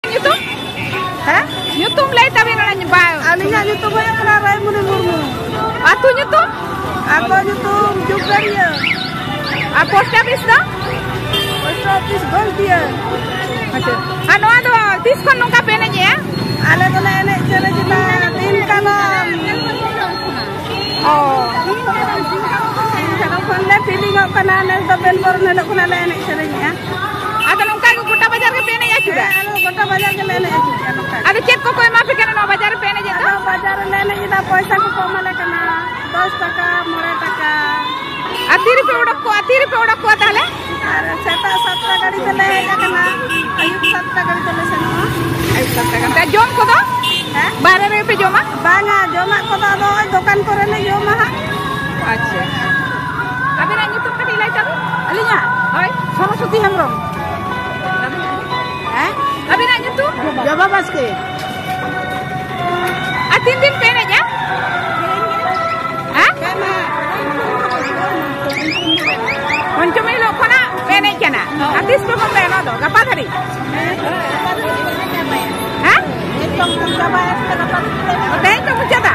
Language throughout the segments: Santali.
ᱧᱩᱛᱩᱢ ᱦᱮᱸ ᱧᱩᱛᱩᱢ ᱞᱟᱹᱭ ᱛᱟᱵᱮᱱ ᱚᱱᱟ ᱵᱟ ᱟᱹᱞᱤᱧᱟᱜ ᱧᱩᱛᱩᱢ ᱦᱩᱭᱩᱜ ᱠᱟᱱᱟ ᱨᱟᱭᱢᱩᱱᱤ ᱢᱩᱨᱢᱩ ᱟᱹᱛᱩ ᱧᱩᱛᱩᱢ ᱟᱹᱛᱩ ᱧᱩᱛᱩᱢ ᱡᱩᱜᱟᱹᱨᱤᱭᱟᱹ ᱟᱨ ᱯᱳᱥᱴ ᱚᱯᱷᱤᱥ ᱫᱚ ᱯᱳᱥᱴ ᱚᱯᱷᱤᱥ ᱜᱚᱞᱛᱤᱭᱟᱹ ᱟᱪᱪᱷᱟ ᱟᱨ ᱱᱚᱣᱟ ᱫᱚ ᱛᱤᱥ ᱠᱷᱚᱱ ᱱᱚᱝᱠᱟ ᱯᱮ ᱮᱱᱮᱡᱮᱜᱼᱟ ᱟᱞᱮ ᱫᱚᱞᱮ ᱮᱱᱮᱡ ᱥᱮᱨᱮᱧ ᱮᱫᱟ ᱫᱤᱱ ᱠᱟᱞᱚᱢ ᱚ ᱫᱤᱱ ᱠᱟᱞᱚᱢ ᱠᱷᱚᱱᱞᱮ ᱯᱷᱤᱞᱤᱝᱚᱜ ᱠᱟᱱᱟ ᱱᱮᱥ ᱫᱚ ᱵᱮᱞ ᱵᱚᱨᱚᱱ ᱦᱤᱞᱳᱜ ᱠᱷᱚᱱᱟᱜ ᱞᱮ ᱮᱱᱮᱡ ᱥᱮᱨᱮᱧᱮᱜᱼᱟ ᱟᱫᱚ ᱱᱚᱝᱠᱟ ᱜᱮ ᱜᱚᱴᱟ ᱵᱟᱡᱟᱨ ᱜᱮᱯᱮ ᱮᱱᱮᱡ ᱟᱹᱪᱩᱨᱟ ᱟᱞᱮ ᱫᱚ ᱜᱚᱴᱟ ᱵᱟᱡᱟᱨ ᱜᱮᱞᱮ ᱮᱱᱮᱡ ᱟᱹᱪᱩᱨ ᱠᱟᱱᱟ ᱱᱚᱝᱠᱟ ᱜᱮ᱾ ᱟᱫᱚ ᱪᱮᱫ ᱠᱚᱠᱚ ᱮᱢᱟ ᱯᱮ ᱠᱟᱱᱟ ᱱᱚᱣᱟ ᱵᱟᱡᱟᱨ ᱨᱮᱯᱮ ᱮᱱᱮᱡᱮᱫ ᱫᱚ ᱟᱫᱚ ᱵᱟᱡᱟᱨ ᱨᱮᱞᱮ ᱮᱱᱮᱡ ᱮᱫᱟ ᱯᱚᱭᱥᱟ ᱠᱚᱠᱚ ᱮᱢᱟᱞᱮ ᱠᱟᱱᱟ ᱫᱚᱥ ᱴᱟᱠᱟ ᱢᱚᱬᱮ ᱴᱟᱠᱟ ᱟᱨ ᱛᱤᱨᱮᱯᱮ ᱚᱰᱚᱠ ᱠᱚᱣᱟ ᱛᱤᱨᱮᱯᱮ ᱚᱰᱚᱠ ᱠᱚᱣᱟ ᱛᱟᱦᱚᱞᱮ ᱟᱨ ᱥᱮᱛᱟᱜ ᱥᱟᱛᱴᱟ ᱜᱟᱹᱰᱤ ᱛᱮᱞᱮ ᱦᱮᱡ ᱟᱠᱟᱱᱟ ᱟᱹᱭᱩᱵ ᱥᱟᱛᱴᱟ ᱜᱟᱹᱰᱤ ᱛᱮᱞᱮ ᱥᱮᱱᱚᱜᱼᱟ ᱟᱹᱭᱩᱵ ᱥᱟᱛᱴᱟ ᱜᱟᱱ ᱛᱮ ᱡᱚᱢ ᱠᱚᱫᱚ ᱦᱮᱸ ᱵᱟᱦᱨᱮ ᱨᱮᱜᱮ ᱯᱮ ᱡᱚᱢᱟ ᱵᱟᱝᱟ ᱡᱚᱢᱟᱜ ᱠᱚᱫᱚ ᱟᱫᱚ ᱫᱚᱠᱟᱱ ᱠᱚᱨᱮᱞᱮ ᱡᱚᱢᱟ ᱦᱟᱸᱜ ᱟᱪᱪᱷᱟ ᱟᱵᱮᱱᱟᱜ ᱧᱩᱛᱩᱢ ᱠᱟᱹᱴᱤᱡ ᱞᱟᱹᱭ ᱛᱟᱵᱮᱱ ᱟᱹᱞᱤᱧᱟᱜ ᱦᱳᱭ ᱥᱚᱨᱚᱥᱚᱛᱤ ᱦᱮᱢᱵᱨᱚᱢ ᱦᱮᱸ ᱟᱵᱮᱱᱟᱜ ᱧᱩᱛᱩᱢ ᱡᱚᱵᱟ ᱵᱟᱥᱠᱮ ᱟᱨ ᱛᱤᱱ ᱫᱤᱱ ᱯᱮ ᱮᱱᱮᱡᱟ ᱦᱮᱸ ᱯᱚᱧᱪᱚᱢᱤ ᱦᱤᱞᱳᱜ ᱠᱷᱚᱱᱟᱜ ᱯᱮ ᱮᱱᱮᱡ ᱠᱟᱱᱟ ᱟᱨ ᱛᱤᱥ ᱯᱮ ᱵᱚᱱᱫᱚᱭᱟ ᱱᱚᱣᱟ ᱫᱚ ᱜᱟᱯᱟ ᱫᱷᱟᱹᱨᱤᱡ ᱦᱮᱸ ᱛᱮᱦᱮᱧ ᱯᱮ ᱢᱩᱪᱟᱹᱫᱟ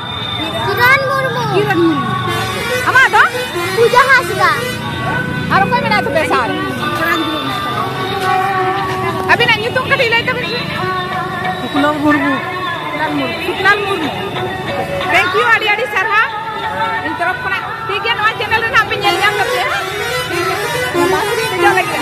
ᱠᱤᱨᱚᱱ ᱢᱩᱨᱢᱩ ᱠᱤᱨᱚᱱ ᱢᱩᱨᱢᱩ ᱟᱢᱟᱜ ᱫᱚ ᱯᱩᱡᱟ ᱦᱟᱸᱥᱫᱟ ᱟᱨ ᱚᱠᱚᱭ ᱢᱮᱱᱟᱭ ᱛᱟᱯᱮ ᱥᱟᱨ ᱟᱹᱵᱤᱱᱟᱜ ᱧᱩᱛᱩᱢ ᱠᱟᱹᱴᱤᱡ ᱞᱟᱹᱭ ᱛᱟᱵᱤᱱ ᱥᱩᱠᱞᱟᱞ ᱢᱩᱨᱢᱩ ᱥᱩᱠᱞᱟᱞ ᱢᱩᱨᱢᱩ ᱥᱩᱠᱞᱟᱞ ᱢᱩᱨᱢᱩ ᱛᱷᱮᱝᱠ ᱭᱩ ᱟᱹᱰᱤ ᱟᱹᱰᱤ ᱥᱟᱨᱦᱟᱣ ᱤᱧ ᱛᱚᱨᱚᱯ ᱠᱷᱚᱱᱟᱜ ᱴᱷᱤᱠ ᱜᱮᱭᱟ ᱱᱚᱣᱟ ᱪᱮᱱᱮᱞ ᱨᱮᱱᱟᱜ ᱯᱮ ᱧᱮᱞ ᱧᱟᱢ ᱠᱟᱛᱮ ᱵᱟᱥ ᱨᱮ ᱫᱮᱡᱚᱜ ᱞᱟᱹᱜᱤᱫ